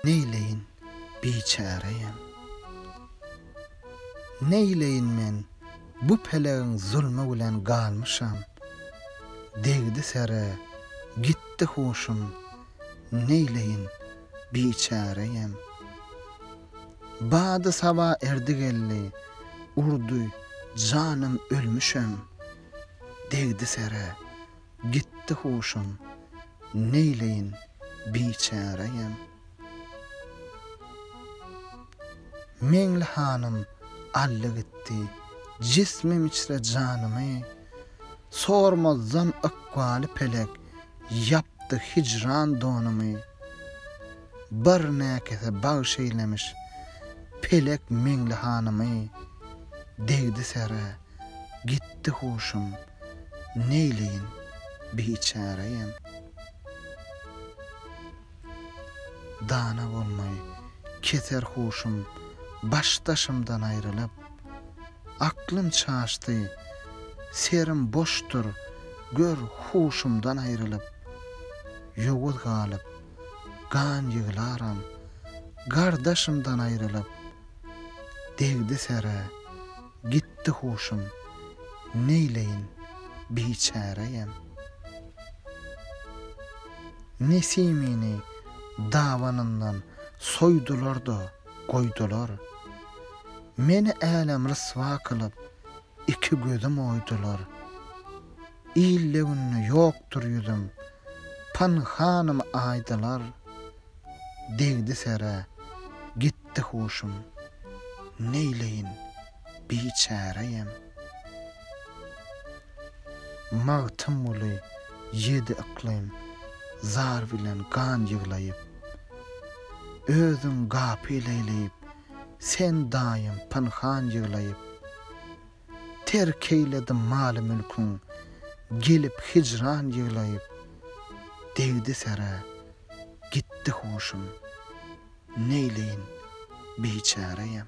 Neýleýin, biçäreýem. Neýleýin men, bu pelegiň zulmy bilen galmyşam. Degdi sere, gitdi huşum. Neýleýin, biçäreýem. Bady saba erdi geldi, urdy, janym ölmüşem. Degdi sere. Gitdi huşum, neýleýin, biçäreýem. Meňli hanym aldy gitdi, jismim içre janymy, Sormazdan ykbaly pelek, ýapdy hijran donumy. birnäkese bagş eýlemiş Pelek Meňli hanymy Degdi sere, gitdi huşum Neýleýin, biçäreýem Dana bolmaý, keser huşum Baş-daşymdan aýrylyp Aklym çaşdy, serim boşdur Gör, huşumdan aýrylyp Ýowuz galyp, gan ýyglaram, Gardaşymdan aýrylyp, degdi sere, Gitdi huşum, neýleýin, biçäreýem. Nesimini dabanyndan soýdular-da, goýdular, Meni älem ryswa kylyp, iki gözüm oýdular. Ilde günde ýokdur ýüzüm. Pynhanym aýdylar, degdi serä, gitdi huşum. Neýleýin, biçäreýem. Magtymguly ýedi yklym zar bilen gan ýyglaýyp. Özüň gapyl eýleýip, sen daýym pynhan ýyglaýyp. Terk eýledim maly-mülküň, gelip hijran ýyglaýyp, Degdi serä, gitdi huşum, neýleýin, biçäreýem.